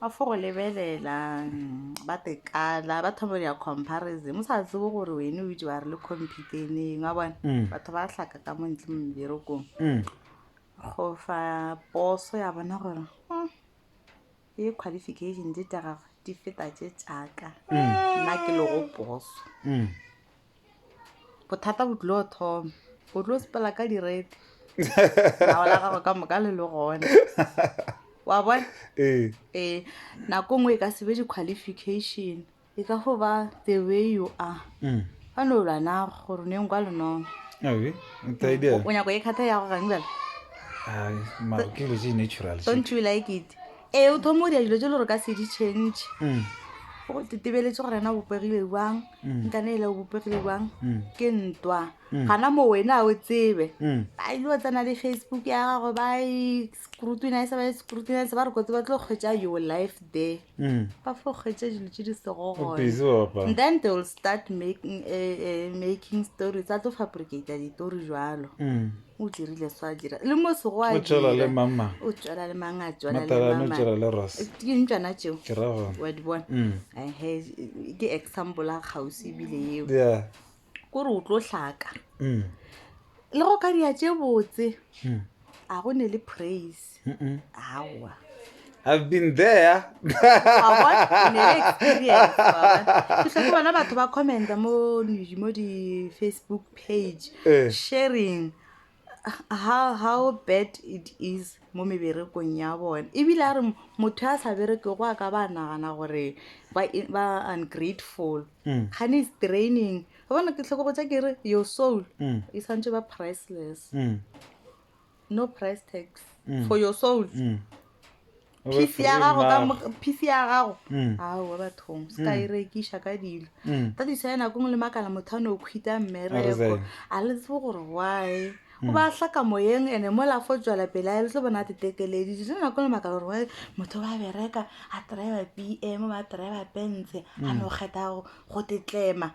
ba fo go lebelela ba tekala ba thoma ya comparison mo sa tsebo gore wene o itse wa re le computeneng wa bona mm. batho ba tlhaka ka montle mo meberekong mm. go fa poso ya bona gore hmm, e qualification di tsa gagwe di feta tse tsaka mm. nna ke lego poso bothata bo tlilo thoma o tlo sepela ka direte nao la gago ka moka le le gone wa bona ee ee nako nngwe e ka sebe di-qualification e ka fo ba the way you are Mm. fa no lwa nago gore o neng kwa lenong Awi, nta idea. o nyako e kgatha ya go gang bela Ai, mara ke dilo tse natural tše. don't you like it Ee, o thoma o dira dilo tse le gore ka se di change Mm, go tetebeletse gore ena o bopegile jang Mm. nkana ele o bopegile jang mm, ke ntwa Mm. gana mo wena a o tsebe mm. a ile o tsena le facebook ya gago ba e scrutinise ba e scrutinise ba re kotse ba tlo kgwetsa your life there Mm. ba fo kgwetsa dilo tse di sego O gone busy wa bapala. and then they will start making, uh, uh, making stories a tlo fabricata ditori jalo Mm. o dirile so a dira le mo sego a o tšwela le mamang o tšwela le mang a tšwela matalane o tšwela le ros ke ntšana tšeo ke ra gona wa di bona mm. ehe ke example a kgausi ebile eo yeah kore o tlo hlaka mm. le go ka dia tše botse mm. a go ne le praise aowa I've been there. Wa bona? Ke ne le experience, wa bona? Ke hloke bona batho ba commenta mo di- mo di-facebook page Eh. sharing how, how bad it is mo meberekong ya bone ebile a re m- motho a sa bereke go a ka ba nagana gore ba i- ba ungrateful Mm. gane is training ga bona ke tlhoko botsa ke re your soul Mm. e swantse ba priceless Mm. no price tags mm. for your souls mm. peace ya gago ka peace ya gago mm. a wa bathong se ka mm. e rekiša ka dilo mm. that is why nako ngwe le makala motho a ne o khwita mmereko a le tsebo gore why o ba hlaka moyeng ene mo la fo tswela pele a le tlo bona tetekeledi se nako le makala gore why motho ba bereka a driver b m ba driver bense a no kgetha go tetlema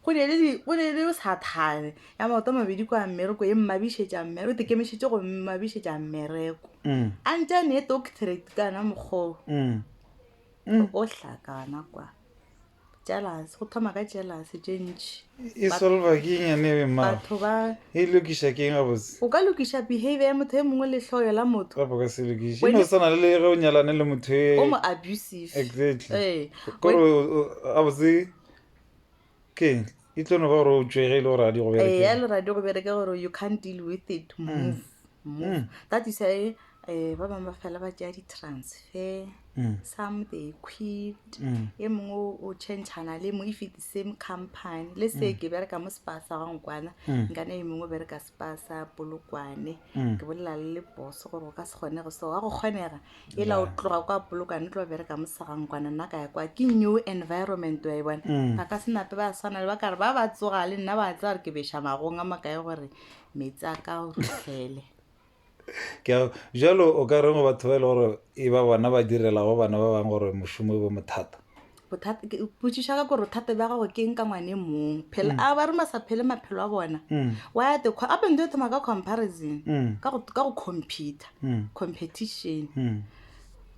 go ne le di- go ne le sathane ya maoto a mabedi kwa mmereko e mmabišetša mmere o tekemišitše go mmabišetša mmereko Mm, a ntša ne doctorate kana mokgoo mm, mm. o hlakana kwa jealous go thoma ka jealous tše ntši e solva ke eng yane ebe mmago batho ba e lokiša ke eng gabotse o ka lokiša behavior ya motho e mongwe le hloyo la motho gape o ka se lokiše Wene- no swana le ge o nyalane le motho e o mo abusive exactly Ee. kore gabotse ke eng e tlo no ba gore o tšwege e le gore a di go bereke eya le radio go bereke gore you can't deal with it mm. move move mm. that is why um ba bangwe ba fela ba tšea di-transfer mm. some they quit mm. e mongwe o changana le mongwe if the same company le se mm. ke bereka mo sepasa gangwe kwana mm. nkana e mongwe o bereka ba sa polokwane ke bolela le le boso gore go ka se kgonege so wa go kgonega e la o tloga kwa polokwane o tlo bereka mosegangkwana nna ka ya kwa ke new environment wa e bona ga ka senape ba swana le ba kare ba ba tsoga le nna ba tsaya gore ke beša magong a makae gore metsi a ka o rutlhele ke jalo o ka reng go batho ba e le gore e ba bona ba direlago bana ba bangwe gore mošomo e bo mothata bothata ke potšiša ka gore bothata bja gago ke eng ka ngwane mong phela mm. a ba ruma sa phele maphelo a bona mm. why the a beng dio thoma ka comparison mm. ka go computer competition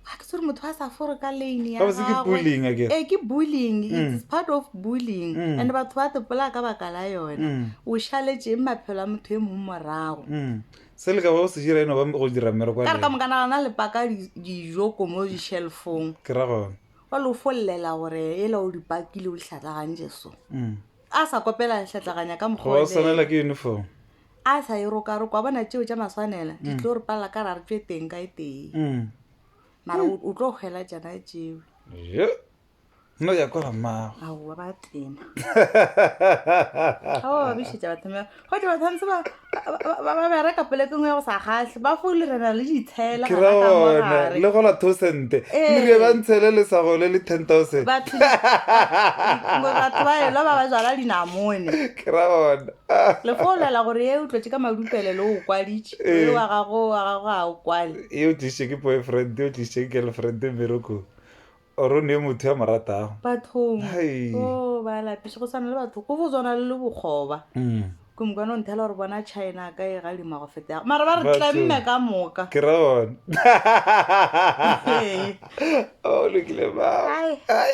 ga ke tsere motho a sa fore ka lane yaee ke bullying eh, its part of bullying and batho ba tepola ka baka la yone o šaletseng maphelo a motho e mong morago Se le ka ba go se dira e no ba go dira mmereko wa Ka re ka lena. moka nagana le paka di- dijo ko mo di-shelfong Ke ra gona. wa lo follela gore ela o di pakile o di hlatlagantše so Mm. a sa kopela hlatlaganya ka mokgwa Go ba o o swanela leele. ke uniform. a sa e rokaroka wa bona tšeo tša maswanela di tlo re palela ka ra re tšwe teng ka e tee Mm. mara o- o tlo kgwela tšana tšeo Yo. no ya kwa mmago aowa ba tena ao ba bišetša bathomea gote bathantse ba bereka polekeng ya go sa kgatlhe ba fole re na le ditshela ke ra ona le gola thosente mire ba ntshele le sa gole le ten thousand batho ba elo ba ba jala dinamone ke ra ona le folela gore e o tlotse ka madupele le o kwaditše e wa gago wa gago ga o kwale e o tliše ke boyfriend e o tliše ke girlfriend mmerekong Oro ne motho ya mo ratago. Bathong. Hai. Go ba lapiše go swana le batho. Go bo zwana le bokgoba. Ke mo kwana o nthela gore bona China ka e galima go feta. Mara ba re tlemme ka moka. Ke ra bona. Ee. Oh lokile ba. Hai. Hai.